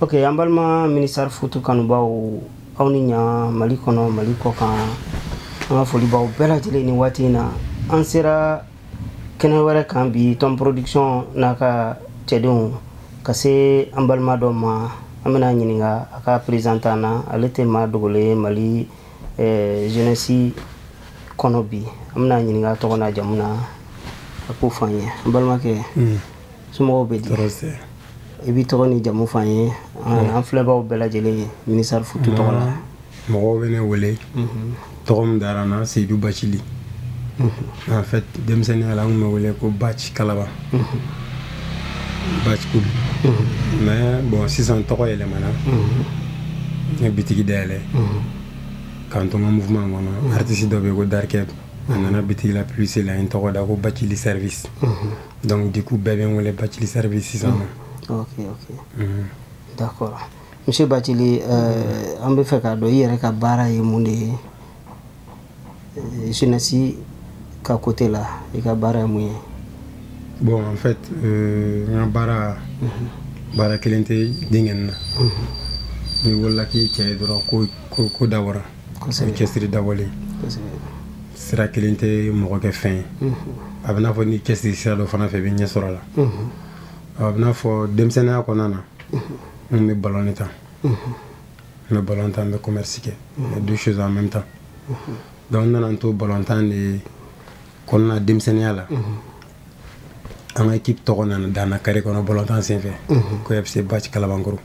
Ok an balima ministère foot kanubaw aw ni ɲa mali kɔnɔ mali kɔ kan an ka foli b'aw bɛɛ lajɛlen ni waati in na an sera kɛnɛ wɛrɛ kan bi Tom Production n'a ka cɛdenw ka se an balima dɔ ma an bɛna ɲininka a ka présentant na ale tɛ maa dogolen ye mali eh, jeunesse kɔnɔ bi an bɛna ɲininka a tɔgɔ n'a jamu na a k'o fɔ an ye an balimakɛ Somɔgɔw bɛ di i b'i tɔgɔ ni jamu f'an ye an filɛbaw bɛɛ lajɛlen ye ministère foot tɔgɔ la mɔgɔw bɛ ne wele tɔgɔ min dara n na Seyidu Bacili en fait denmisɛnninya la an bɛ wele ko Bac Kalaba Bac mais bon sisan tɔgɔ yɛlɛmana n ye bitigi dayɛlɛ k'an to n ka mouvement kɔnɔ artiste dɔ bɛ ko Darkɛ a nana bitigi la publicité la n tɔgɔ da ko Bacili Service Donc du coup bɛɛ bɛ n wele Bacili Service sisan nɔ. Mm. Ok ok. Unhun. D'accord. Monsieur Bacili euh, an bɛ fɛ k'a dɔn i yɛrɛ ka baara ye mun de ye euh, jeunesse ka côté la i ka baara ye mun ye? Bon en fait euh, n ka baara mm-hmm. baara kelen tɛ diɲɛ na. Unhun. N'i wolola k'i cɛ ye dɔrɔn ko ko ko dabɔra. cɛsiri dabɔlen sira kelen tɛ mɔgɔ kɛ fɛn ye a bɛ n'a fɔ n'i cɛsiri sira dɔ fana fɛ i bɛ ɲɛ sɔrɔ a la a bɛ n'a fɔ denmisɛnninya kɔnɔna na n bɛ balon tan n bɛ balon tan n bɛ kɔmɛrisi kɛ deux choses en même temps donc n nana n to balon tan de kɔnɔna denmisɛnninya la an ka équipe tɔgɔ nana da n na carré kɔnɔ balontan senfɛ ko FC Bac Kalabankɔrɔ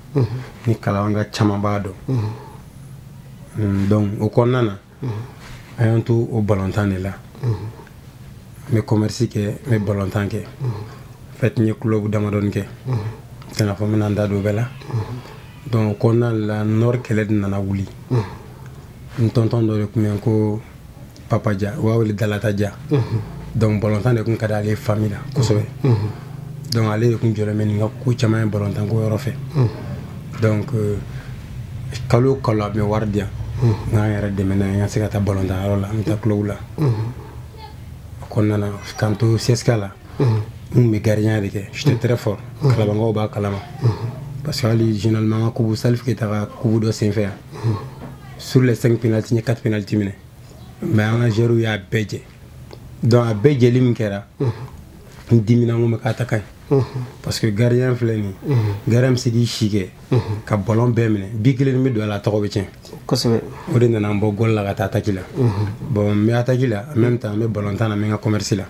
ni Kalabanka caman b'a dɔn mm, donc o kɔnɔna na an y'an to o balontan de la n bɛ kɔmɛrisi kɛ n bɛ balontan kɛ fait n ye club damadɔni kɛ tɛ n'a fɔ n bɛna n da don bɛɛ la donc o kɔnɔna la Nord kɛlɛ de nana wuli n tonton dɔ de tun bɛ ko Papa Ja u b'a wele Dalata Ja donc balontan de tun ka di ale fami na kosɛbɛ donc ale de tun jɔlen bɛ ni n ka ko caman ye balontan ko yɔrɔ fɛ donc euh, kalo o kalo a bɛ wari di yan n ka n yɛrɛ dɛmɛ n'a ye n ka se ka taa balontan yɔrɔ la n bɛ taa club la o kɔnɔna na k'an to CSK la n tun bɛ gardien de kɛ j'étais très fort kalabankaw b'a kalama parce que hali généralement an ka coupe Salif Keyita ka coupe dɔ senfɛ yan sur les 5 penalty n ye 4 penalty minɛ mais an ka joueurw y'a bɛɛ jɛ donc a bɛɛ jɛli min kɛra n dimina n ko n bɛ k'a ta ka ɲi parce que gardien filɛ nin gardien bɛ se k'i si kɛ ka ballon bɛɛ minɛ bi kelen min bɛ don a la tɔgɔ bɛ tiɲɛ kosɛbɛ o de nana n bɔ gol la ka taa attaque la bon n bɛ attaque la en même temps n bɛ ballon tan na n bɛ n ka commerce la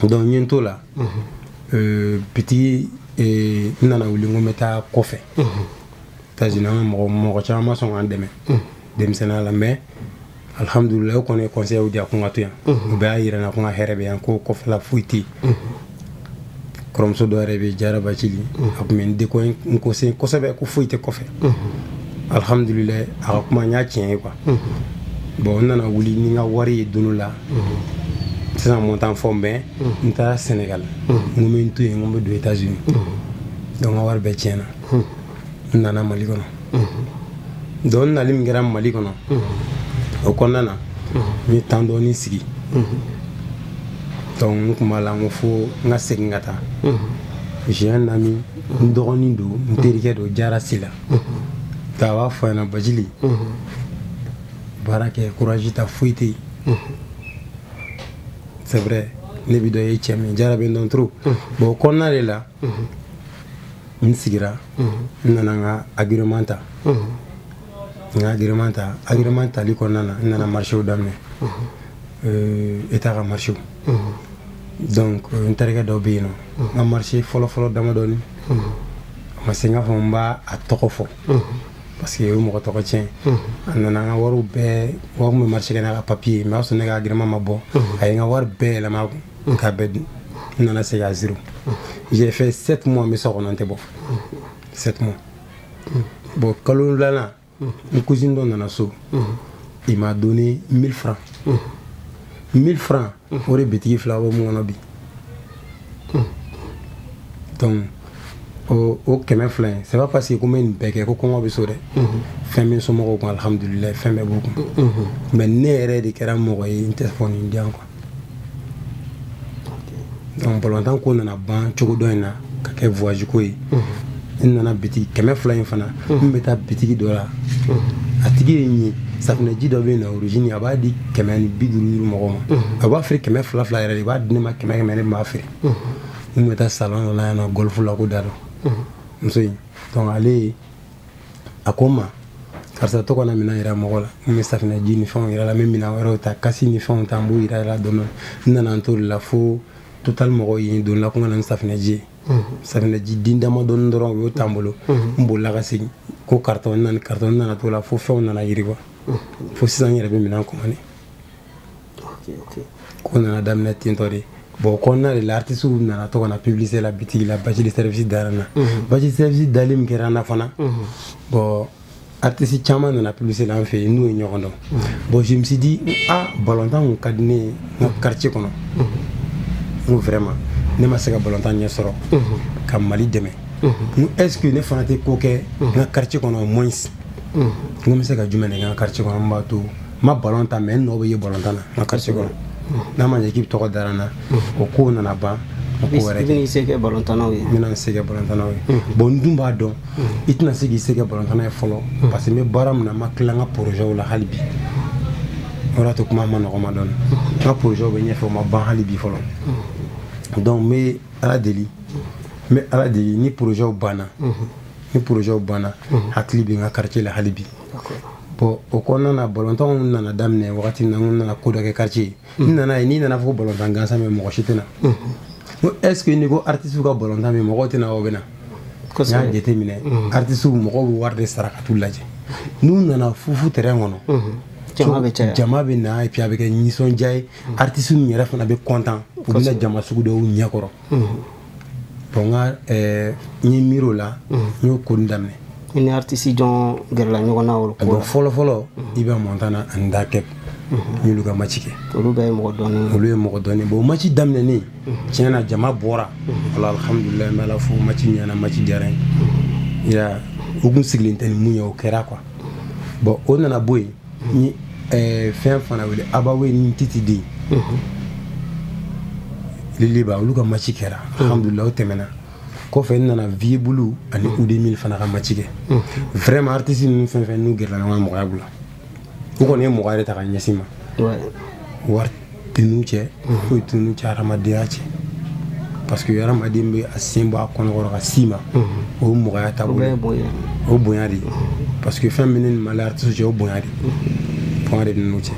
donc n ye n t'o la euh, bitigi euh, n nana wuli n ko n bɛ taa kɔfɛ États-Unis an ka mɔgɔ mɔgɔ caman ma sɔn ka n dɛmɛ denmisɛnninya la mais alhamdulilayi o kɔni ye conseil di a ko n ka to yan u bɛɛ y'a yira n na ko n ka hɛrɛ bɛ yan ko kɔfɛla foyi tɛ yen kɔrɔmuso dɔ yɛrɛ bɛ yen jara bacili a tun bɛ n deko n conseiller kosɛbɛ ko foyi tɛ kɔfɛ alhamdulilayi a ka kuma in ye tiɲɛ ye quoi bon n nana wuli ni n ka wari ye don dɔ la sisan montant fɔ mais n taara Sénégal n ko n bɛ n to yen n ko n bɛ don États-Unis donc n ka wari bɛɛ tiɲɛna n nana mali kɔnɔ donc n nali min kɛra mali kɔnɔ o kɔnɔna na n ye temps dɔɔni sigi donc n tun b'a la n ko fo n ka segin ka taa j'ai un ami n dɔgɔnin don n terikɛ don jara sila nka a b'a fɔ n ɲɛ na bacili baara kɛ courage ta foyi tɛ yen c'est vrai ne bi dɔ ye cɛ min jara bɛ n dɔn trop bon o kɔnɔna de la n sigira n nana n ka agrément ta n ka agrément ta agrément tali kɔnɔna na n nana marchéw daminɛ État ka marchéw donc n terikɛ dɔ bɛ yen nɔ n ka marché fɔlɔfɔlɔ damadɔni a ma se n k'a fɔ n b'a tɔgɔ fɔ parce que o ye mɔgɔ tɔgɔ tiɲɛ a nana n ka wariw bɛɛ wa n tun bɛ marché kɛ n'a ka papier ye mais o y'a sɔrɔ ne ka agrément ma bɔ a ye n ka wari bɛɛ yɛlɛma a kun k'a bɛɛ dun n nana segin à zéro j'ai fait sept mois n bɛ so kɔnɔ n tɛ bɔ sept mois bon kalo wolonwulanan n cousine dɔ nana so il m'a donné 1000 francs 1000 francs o de bitigi fila bɔ min kɔnɔ bi donc o o kɛmɛ fila in c'est pas parce que ko n bɛ nin bɛɛ kɛ ko kɔngɔ bɛ so dɛ fɛn bɛ n somɔgɔw kun alihamudulilayi fɛn bɛɛ b'u kun mais ne yɛrɛ de kɛra mɔgɔ ye n tɛ fɔ nin di yan quoi donc ballon tan ko nana ban cogo dɔ in na ka kɛ voyage ko ye n nana bitigi kɛmɛ fila in fana n bɛ taa bitigi dɔ la a tigi ye n ye safinɛji dɔ bɛ yen na origine a b'a di kɛmɛ ni bi duuru duuru mɔgɔ ma a b'a feere kɛmɛ fila fila yɛrɛ de i b'a di ne ma kɛmɛ kɛmɛ ne b'a feere n bɛ taa salon dɔ la yan nɔ golf la ko dado muso in donc ale ye a ko n ma karisa to ka na minɛn yira mɔgɔ la n bɛ safinɛji ni fɛnw yira la n bɛ minɛn wɛrɛw ta kasi ni fɛnw ta n b'u yira la dɔɔni n nana n t'o de la fo total mɔgɔw ye don la ko n ka na ni safinɛji ye safinɛji den damadɔni dɔrɔn u y'o ta n bolo n bolila ka segin ko karisa n nana karisa n nana t'o la fo fɛnw nana yiriwa fo sisan n yɛrɛ bɛ minɛn commandé ko nana daminɛ tentɔ de bon o kɔnɔna de la artisiw nana to ka na publicité la bitigi la basi de service dara n na mhm. basi de service dali min kɛra n na fana mhm. bon artisi caman nana publicité la an fɛ yen n'u ye ɲɔgɔn dɔn mhm. bon je me suis dit ah balontan kun ka di ne ye n ka quartier kɔnɔ n ko vraiment ne ma se ka balontan ɲɛ sɔrɔ ka mali dɛmɛ n est ce que ne fana tɛ ko kɛ n ka quartier kɔnɔ au moins n ko n bɛ se ka jumɛn de kɛ n ka quartier kɔnɔ n b'a to ma ballon tan mais n nɔ bɛ ye ballon tan na n ka quartier kɔnɔ n'a ma ɲɛ k'i bɛ tɔgɔ dara n na o kow nana ban ko wɛrɛ kɛ i bɛna i se kɛ ballon tannaw ye n bɛna n se kɛ ballon tannaw ye bon n dun b'a dɔn i tɛna se k'i se kɛ ballon tanna ye fɔlɔ parce que n bɛ baara min na n ma tila n ka projets la hali bi o de y'a to kuma man nɔgɔn n ma dɔɔni n ka projets bɛ ɲɛfɛ o ma ban hali bi fɔlɔ donc n bɛ ala deli n bɛ ala deli ni projets banna ni projets banna n hakili bɛ n ka quartier la hali bi bon o kɔnɔna na balontanw nana daminɛ wagati min na n nana ko dɔ kɛ quartier ye mm. n nana a ye n'i nana fɔ ko balontan gansan bɛ mɔgɔ si tɛ na mm. n ko est ce que n'i ko artiste ka balontan bɛ mɔgɔw tɛ na o bɛ na n y'a jateminɛ mm. artiste mɔgɔw bɛ wari de sara ka t'u lajɛ n'u nana fufu terrain kɔnɔ mm-hmm. jama bɛ na et puis a bɛ kɛ nisɔndiya ye artiste min yɛrɛ fana bɛ content u bɛ na jama sugu dɔw ɲɛkɔrɔ mm-hmm. Bon n ka ɛɛ n ye miiri o la n y'o ko nin daminɛ i ni artiste jɔn gɛrɛla ɲɔgɔn na o ko la fɔlɔ fɔlɔ Iba Montana ani Dr Keb n y'olu ka match kɛ olu bɛɛ ye mɔgɔ dɔnnen olu ye mɔgɔ dɔnnen bon match daminɛnen tiɲɛ na jama bɔra wala alhamdulilayi n bɛ Ala fo match ɲɛna match diyara n ye i y'a ye u tun sigilen tɛ ni min ye o kɛra quoi bon o nana bɔ yen n ye fɛn fana wele Abba Wayne ni Titiden mhm. Lil Iba olu ka maci kɛra mhm. alhamdulilah o tɛmɛna kɔfɛ n nana Viebou Loup ani mhm. Oudé Mill fana ka maci kɛ vraiment artiste ninnu fɛn fɛn n'u gɛrɛla ɲɔgɔn na mɔgɔya bolo u kɔni ye mɔgɔya de ta ka ɲɛsin n ma wari tɛ n'u cɛ foyi tɛ n'u cɛ hadamadenya cɛ parce que hadamaden bɛ a sen bɔ a kɔnɔkɔrɔ ka s'i ma o mɔgɔya ta o bonya de parce que fɛn min ne ni mali artiste cɛ o bonya de fanga de bɛ n'u cɛ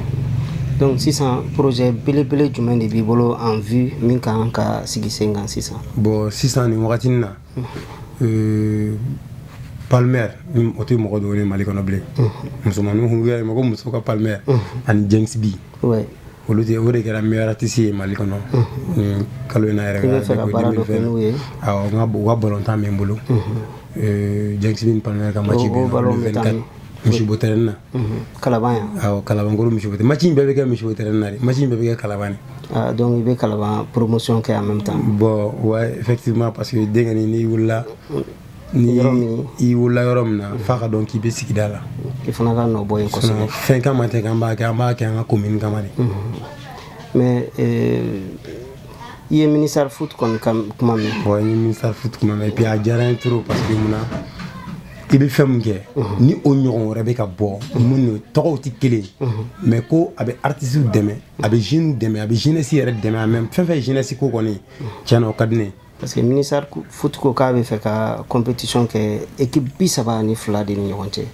donc sisan projet belebele jumɛn de b'i bolo en vue min ka kan ka sigi sen kan sisan bon sisan nin wagati na Palmer o tɛ mɔgɔ dogonen ye mali kɔnɔ bilen musomanninw ko mɔgɔ muso ka Palmer ani James B olu de o de kɛra meilleur artiste ye mali kɔnɔ kalo in na yɛrɛ fɛ ka bɔ n ka balɔntan bɛ n bolo James B ni Palmer ka match misibo tɛ na kala kalakolo misi ma in bɛɛ bɛ kɛ misi tɛ na ma in bɛɛ bɛ kɛ kala dɔnku i bɛ kala poromosiyɔn kɛ an bɛ taa bɔn wa fɛti ma parce que denkɛ ni wulila ni i wulila yɔrɔ min na fa ka dɔn k'i bɛ sigida la i fana ka bɔ fɛn ka ma tɛ an b'a kɛ an b'a kɛ an ka ko mini kama mɛ i ye minisari futu kuma min fɔ ye minisari futu kuma mɛ bi a diyara in t pa que mun na i bɛ fɛn min kɛ ni o ɲɔgɔn wɛrɛ bɛ ka bɔ minnu tɔgɔw tɛ kelen mais ko a bɛ artistes dɛmɛ a bɛ jeunes dɛmɛ a bɛ jeunesse yɛrɛ dɛmɛ a même fɛn fɛn ye jeunesse ko kɔni cɛn na o ka di ne ye parce que ministère foot ko k'a bɛ fɛ ka compétition kɛ équipe bi saba ni fila de ni ɲɔgɔn cɛ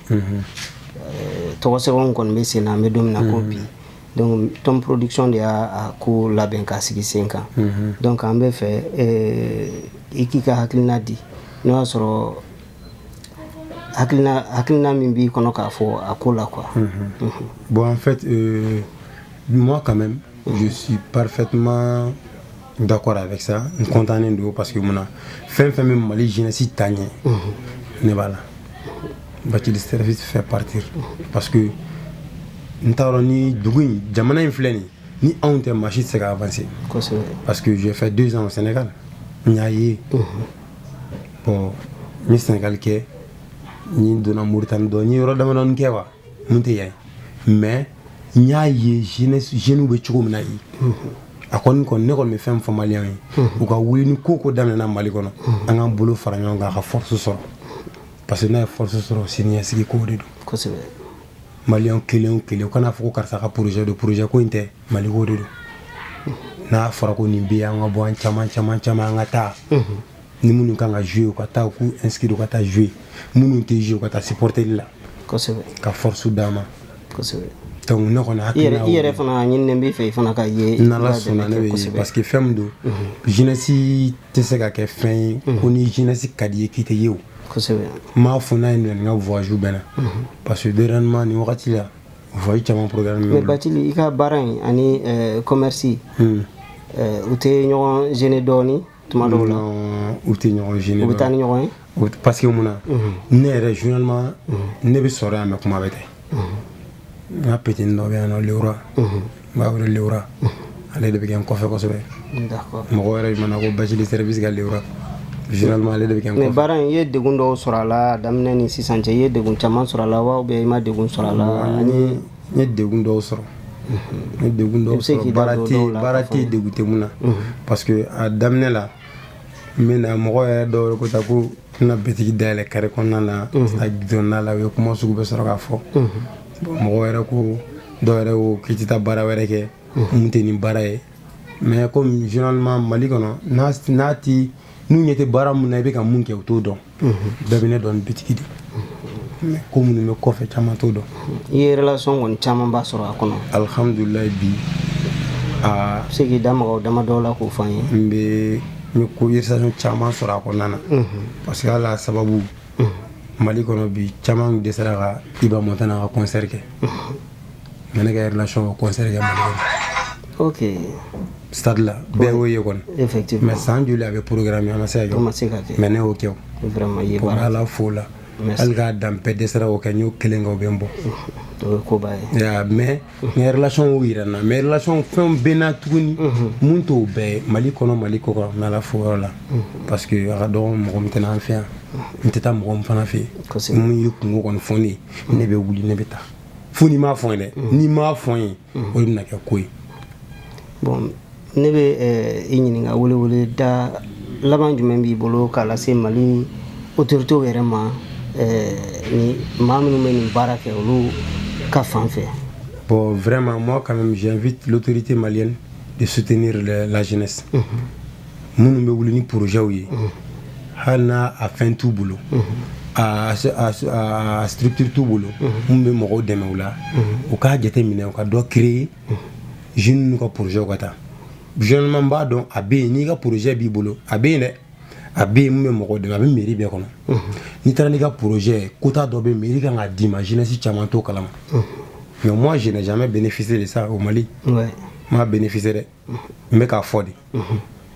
tɔgɔ sɛbɛn kɔni bɛ sen na an bɛ don min na ko bi tɔnonporourdikicɔn de y'a ko labɛn k'a sigi sen kan donc an bɛ fɛ i k'i ka hakilina di n'o y'a sɔrɔ hakilina min b'i kɔnɔ k'a fɔ a ko la qu bɔn an fɛ ɲuman ka mɛsi pafetuma dakɔrɔ a bɛ sa n kɔntan don parce que mun na fɛn fɛn bɛ mali jsi ta ɲɛ ne b'a la ba fɛ pate parce que n taara ni dugu in jamana in filɛ nin ni anw tɛ maasi se ka parce que fɛ donsan sɛnɛka n y'a ye n ye sɛnɛgali kɛ n donna moritani dɔn n ye yɔrɔ damadɔni kɛ wa mun tɛ yan mais n y'a ye jeunesse jeunes bɛ cogo min na yen a kɔni kɔni ne kɔni bɛ fɛn fɔ maliyɛnw ye u ka wuli ni ko ko daminɛna mali kɔnɔ an k'an bolo fara ɲɔgɔn kan a ka force sɔrɔ parce que n'a ye force sɔrɔ siniɲɛsigi ko de don kosɛbɛ maliyɛn kelen o kelen u kana fɔ ko karisa ka projet don projet ko in tɛ mali ko de don n'a fɔra ko nin bɛ yen an ka bɔ an caman caman caman an ka taa ni minnu kan ka jouer u ka taa k'u inscrire ka taa jouer minnu tɛ jouer ka taa supporterli la ka force d'a ma ne kɔni i yɛrɛ fana ɲininen b'i fɛ i fana ka ye n'ala sɔnna ne bɛ ye parce que fɛn min don jeunesse tɛ se ka kɛ fɛn ye ko ni jeunesse ka d'i ye k'i tɛ ye o n b'a fɔ n'a ye n ka voyage bɛɛ na parce que dernièrement nin wagati la Fɔ caman bati i ka baara in ani kɔmmerisi u tɛ ɲɔgɔn ze dɔɔnin tuma dɔw la u tɛ ɲɔgɔn z u bɛ taa ni ɲɔgɔn ye o pa mun na ne yɛrɛ zma ne bɛ sɔrɔ yan mɛ kuma bɛ kɛ n ka p dɔ bɛ yan nɔ ra n b'a wele lewura ale de bɛ kɛ n kɔfɛ kosɛbɛ mɔgɔ yɛrɛ mana ko bathily service ka lewura généralement ale de bɛ kɛ n kɔfɛ mais baara in i ye degun dɔw sɔrɔ a la daminɛ ni sisan cɛ i ye degun caman sɔrɔ a la wa ou bien i ma degun sɔrɔ a la ani n ye degun dɔw sɔrɔ n ye degun dɔw sɔrɔ baara tɛ baara tɛ degun tɛ mun na parce que a daminɛ la n bɛ na mɔgɔ yɛrɛ dɔw yɛrɛ ko ta ko n bɛna bitigi dayɛlɛ carré kɔnɔna na a dɔnna la u ye kuma sugu bɛɛ sɔrɔ k'a fɔ mɔgɔ wɛrɛ ko dɔw yɛrɛ ko k'i tɛ taa baara wɛrɛ kɛ mun tɛ nin baara ye mais comme généralement mali kɔnɔ n'a tɛ n'u ɲɛ tɛ baara min na i bɛ ka mun kɛ u t'o dɔn bɛɛ bɛ ne dɔn bitigi de mais ko minnu bɛ kɔfɛ caman t'o dɔn i ye relation kɔni camanba sɔrɔ a kɔnɔ alhamdulilayi bi a se k'i da maga o damadɔw la k'o fɔ an ye n bɛ n ye ko relation caman sɔrɔ a kɔnɔna na parce que ala sababu mali kɔnɔ bi caman dɛsɛra ka iba montana ka concert kɛ mais ne ka relation y'o concert kɛ mali kɔnɔ ok stade la bɛɛ y'o ye kɔni mais san joli a bɛ programmer a ma se ka kɛ mais ne y'o kɛ o ala fo la hali k'a dan bɛɛ dɛsɛra o kɛ n y'o kelen kɛ o bɛ n bɔ mais mais relation y'o yira n na mais relation fɛnw bɛ n na tuguni mun t'o bɛɛ mali kɔnɔ mali kɔ kan n bɛ ala fo yɔrɔ la parce que a ka dɔgɔ mɔgɔ min tɛ na an fɛ yan n tɛ taa mɔgɔ min fana fɛ yen mun y'i kunko kɔni fɔ ne ye ne bɛ wuli ne bɛ taa fo n'i m'a fɔ n ye dɛ n'i m'a fɔ n ye o de bɛna kɛ ko ye bon ne bɛ i ɲininka welewele da laban jumɛn b'i bolo k'a lase mali autorités yɛrɛ ma ni maa minnu bɛ nin baara kɛ olu ka fan fɛ bon vraiment moi quand même j'invite l'autorité malienne de soutenir la jeunesse minnu bɛ wuli ni projetw ye hali n'a a fɛn t'u bolo a structure t'u bolo minnu bɛ mɔgɔw dɛmɛ u la u k'a jate minɛ u ka dɔ créer zun ka pzɛw ka taa zman b'a dɔn a bɛ yen n'i ka pze b'i bolo a bɛ yen dɛ a bɛ yen bɛ mɔgɔ dɛmɛ a bɛ miiri bɛɛ kɔnɔ n'i taara n'i ka pze ko dɔ bɛ miiri ka kan' dii ma jinɛsin caman to kala nka ma jɛnɛcmɛ bɛ ni fisiri sa o mali maa bɛ ni fisɛrɛ n bɛ k'a fɔ de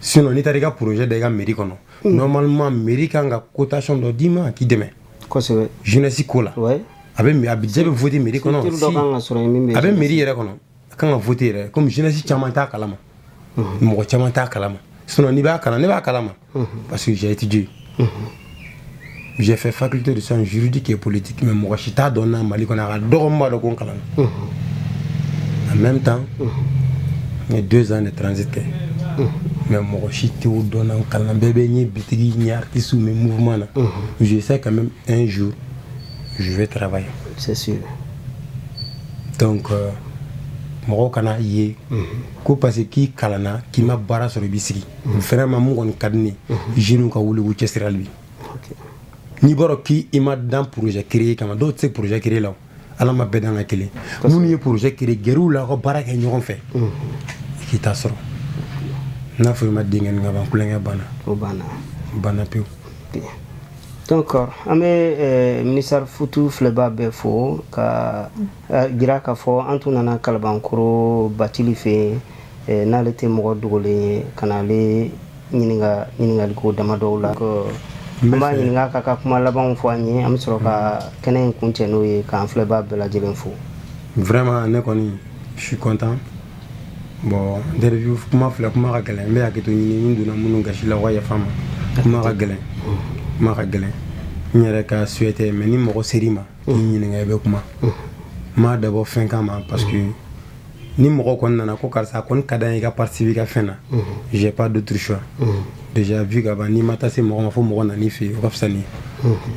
sin n'i taara i ka pze da i ka miiri kɔnɔ nɔrɔma miiri ka kan ka kotacon dɔ d'i ma k'i dɛmɛ kosɛbɛ jeunesse ko la ouais a bɛ a budget bɛ voter mairie kɔnɔ a bɛ mairie yɛrɛ kɔnɔ a kan ka voter yɛrɛ comme jeunesse caman t'a kalama mɔgɔ caman t'a kalama sinon n'i b'a kalan ne b'a kalama parce que j'ai étudié j'ai fait faculté de sciences juridiques et politiques mais mɔgɔ si t'a dɔn n na Mali kɔnɔ a ka dɔgɔ min b'a dɔn ko n kalan en même temps n ye deux ans de transit kɛ mais mɔgɔ si t'o dɔn n na n kalan bɛɛ bɛ n ye bitigi n ye artiste n bɛ mouvement na Je sais quand même un jour, je vais travailler. C'est sûr. Donc, euh, mɔgɔw kan'a ye mhm. ko parce que k'i kalanna k'i ma baara sɔrɔ i b'i sigi mhm. vraiment mun kɔni ka di ne ye mhm. jeunes ka wuli k'u cɛsiri hali bi n'i b'a dɔn k'i ma dan projet créer kama dɔw tɛ se projet créer la ala ma bɛɛ dan ka kelen minnu ye projet créer gɛrɛ u la ka baara kɛ ɲɔgɔn fɛ k'i ta sɔrɔ n'a fɔ i ma denkɛ ka ban kukɛ banna o banna banna pewu donc an bɛ minisari futu filɛbaa bɛɛ fo k'a jira k'a fɔ an tun nana kalabankɔrɔ batili fɛ yen n'ale tɛ mɔgɔ dogolen ye ka n'ale ɲininka ɲininkaliko damadɔw la an b'a ɲininka k'a ka kuma labanw fɔ an ye an bɛ sɔrɔ ka kɛnɛ in kuncɛ n'o ye k'an filɛbaa bɛɛ lajɛlen fo vraiment ne kɔni je suis content bon interview kuma filɛ kuma ka gɛlɛn n bɛ hakɛto ɲini n donna minnu gasi la u ka yafa n ma kuma ka gɛlɛn n yɛrɛ ka souhait tɛ mais ni mɔgɔ ser'i ma k'i ɲininka i bɛ kuma n m'a dabɔ fɛn kama parce que ni mɔgɔ kɔni nana ko karisa a kɔni ka d'an ye i ka participer i ka fɛn na j'ai pas d'autre choix déjà vu ka ban n'i ma taa se mɔgɔ ma fo mɔgɔ nan'i fɛ yen o ka fisa n ye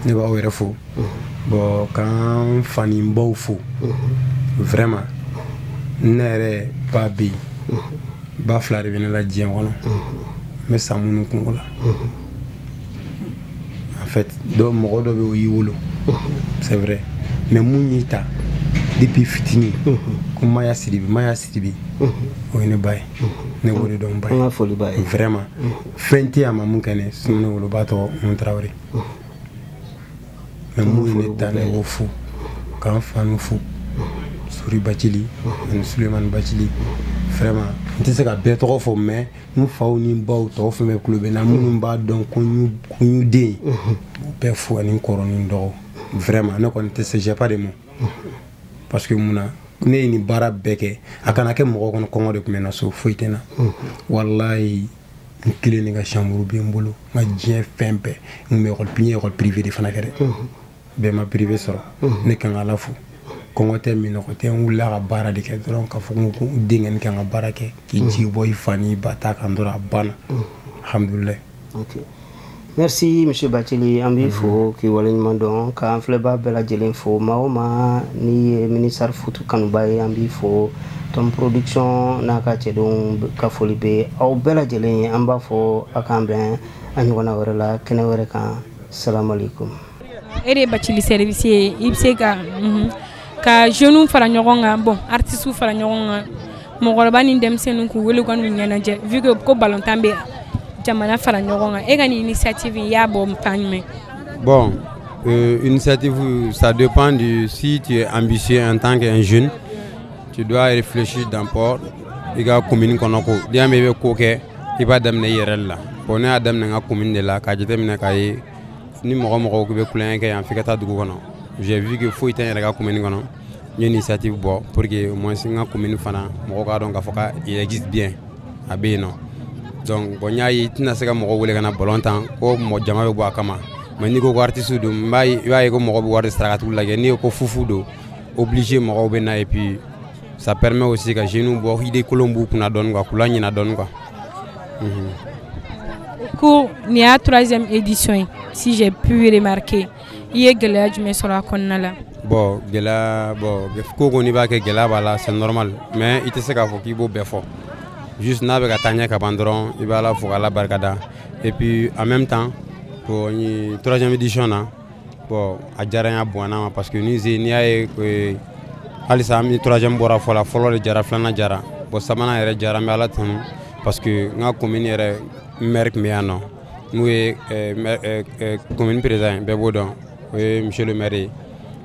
ne b'aw yɛrɛ fo bon k'an fa ni baw fo vraiment ne yɛrɛ ba bɛ yen ba fila de bɛ ne la diɲɛ kɔnɔ n bɛ sa minnu kungo la en fait dɔ mɔgɔ dɔ bɛ o y'i wolo c'est vrai mais mun y'i ta depuis fitini ko maya sidibe maya sidibe o ye ne ba ye ne b'o de dɔn ba ye foli b'a ye vraiment fɛn tɛ a ma mun kɛ ne sinon ne woloba tɔgɔ umu tarawele mais mun ye ne ta ne b'o fo k'an fanu fo sori bacili ani sulemani bacili vraiment n tɛ se ka bɛɛ tɔgɔ fɔ mais n faw ni baw tɔw fɛn bɛɛ tulo bɛ n na minnu b'a dɔn ko n y'u den ye u bɛɛ fo ani n kɔrɔ ni n dɔgɔ vraiment ne kɔni tɛ se j'ai pas de mots parce que mun na ne ye nin baara bɛɛ kɛ a kana kɛ mɔgɔ kɔnɔ kɔngɔ de tun bɛ n na so foyi tɛ n na walayi n kelen de ka chambre bɛ n bolo n ka diɲɛ fɛn bɛɛ n bɛ école n ye école privée de fana kɛ dɛ bɛɛ ma privé sɔrɔ ne kan ka ala fo kɔngɔ tɛ minɔgɔ tɛ n wulila ka baara de kɛ dɔrɔn k'a fɔ ko denkɛ kan ka baara kɛ k'i jigi bɔ i fa ni ba ta kan dɔrɔn a banna hamdulila merci monsieur batili an b'i fo k'i waleɲuman dɔn k'an filɛbaa bɛɛ lajɛlen fo maa o maa n'i ye minisari futu kanubaa ye an b'i fo tɔn production n'a ka cɛdenw ka foli bɛ aw bɛɛ lajɛlen ye an b'a fɔ aw k'an bɛn a ɲɔgɔnna wɛrɛ la kɛnɛ wɛrɛ kan e de Bacili service ye i bɛ se ka jeunes fara ɲɔgɔn kan bon artistes fara ɲɔgɔn kan mɔgɔkɔrɔba ni denmisɛnninw k'u weele ka n'u ɲɛnajɛ vu que ko ballon tan bɛ jamana fara ɲɔgɔn kan e ka nin initiative i y'a bɔ fan jumɛn bon initiative ça dépend de si tu es ambitieux en tant qu'un jeune Tu dois réfléchir d'abord i ka commune kɔnɔ ko n'i y'a mɛn i bɛ ko kɛ i b'a daminɛ i yɛrɛ la bon ne y'a daminɛ n ka commune de la k'a jateminɛ k'a ye ni mɔgɔ mɔgɔ k'i bɛ tulonkɛ kɛ yan f'i ka taa dugu kɔnɔ j'ai vu que foyi tɛ n yɛrɛ ka commune kɔnɔ n ye initiative bɔ pour que au moins n ka commune fana mɔgɔw k'a dɔn k'a fɔ k'a existe bien a bɛ yen nɔ donc bon n y'a ye i tɛna se ka mɔgɔ wele ka na ballon tan ko mɔgɔ jama bɛ bɔ a kama mais n'i ko ko artiste don n b'a ye i b'a ye ko mɔgɔ bɛ wari de sara ka t'u lajɛ n'i ko ko fufu don o bilisi mɔgɔw bɛ na ye bi sapɛreme o se ka zw bɔ hdi kolon b'u kun dɔn kan kula ɲin dɔn kan ko nin y'a tz edisɔn ye sijɛ purmake i ye gɛlɛya jumɛn sɔrɔ a kɔnɔna la bɔn gɛlɛya bɔn ko kɔni b'a kɛ gɛlɛya b'a la sanɔrɔma mɛ i tɛ se k'a fɔ k'i b'o bɛɛ fɔ jus n'a bɛ ka taa ɲɛ ka ban dɔrɔn i b'a la fo ala barikada epi an bɛ tan tɔnjamidisɔn na bon a diyara n ye a bonyana n ma parce que ni n'i y'a ye euh, halisa an troisième bɔra fɔ la fɔlɔ de diyara filanan diyara bon sabanan yɛrɛ diyara n bɛ Ala tanu parce que n ka commune yɛrɛ maire tun bɛ yan nɔ n'o ye commune euh, euh, président ye bɛɛ b'o dɔn o ye monsieur le maire ye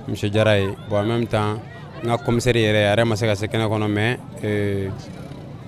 monsieur Jara ye bon en même temps n ka commissaire yɛrɛ a yɛrɛ ma se ka se kɛnɛ kɔnɔ mais